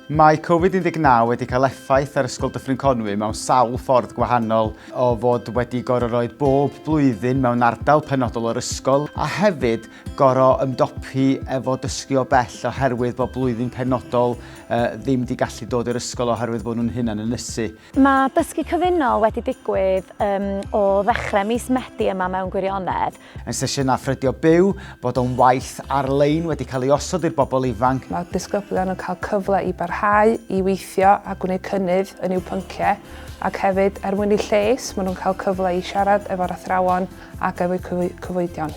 Mae Covid-19 wedi cael effaith ar Ysgol Dyffryn Conwy mewn sawl ffordd gwahanol, o fod wedi gorau rhoi bob blwyddyn mewn ardal penodol o'r ysgol, a hefyd gorau ymdopi efo dysgu o bell oherwydd bod blwyddyn penodol uh, ddim wedi gallu dod i'r ysgol oherwydd bod nhw'n hunan yn ysu. Mae dysgu cyfunol wedi digwydd um, o ddechrau mis Medi yma mewn gwirionedd, Mae sesiynau ffrydio byw, bod o'n waith ar-lein wedi cael ei osod i'r bobl ifanc. Mae disgyblion yn cael cyfle i barhau i weithio a gwneud cynnydd yn i'w pynciau ac hefyd, er mwyn eu lles, maen nhw'n cael cyfle i siarad efo'r athrawon ac efo'u cyfoedion.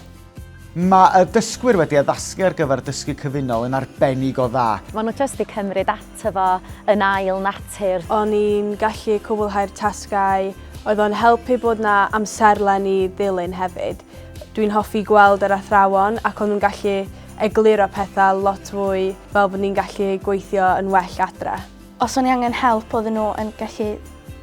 Mae y dysgwyr wedi addasgu ar gyfer dysgu cyfunol yn arbennig o dda. Maen nhw jyst 'di cymryd tyfu yn ail natur. O'n i'n gallu cwblhau'r tasgau, oedd o'n helpu bod 'na amserlen i ddilyn hefyd. Dwi'n hoffi gweld yr athrawon ac o'n nhw'n gallu egluro pethau lot fwy fel bod ni'n gallu gweithio yn well adre. Os o'n i angen help oedden nhw yn gallu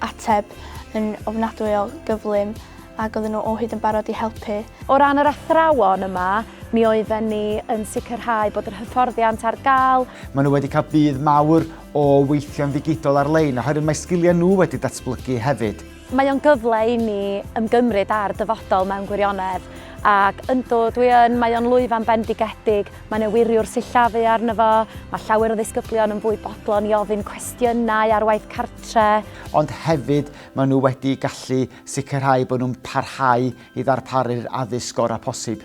ateb yn ofnadwy o gyflym ac oedden nhw o hyd yn barod i helpu. O ran yr athrawon yma, mi oedden ni yn sicrhau bod yr hyfforddiant ar gael. Maen nhw wedi cael budd mawr o weithio'n ddigidol ar-lein oherwydd mae sgiliau nhw wedi datblygu hefyd. Mae o'n gyfle i ni ymgymryd â'r dyfodol mewn gwirionedd ac yndw, dwi yn, mae o'n lwyfan bendigedig, mae yna wiriwr sillafu arno fo, mae llawer o ddisgyblion yn fwy bodlon i ofyn cwestiynau ar waith cartref, tre. Ond hefyd, maen nhw wedi gallu sicrhau bod nhw'n parhau i ddarparu'r addysg gorau posib.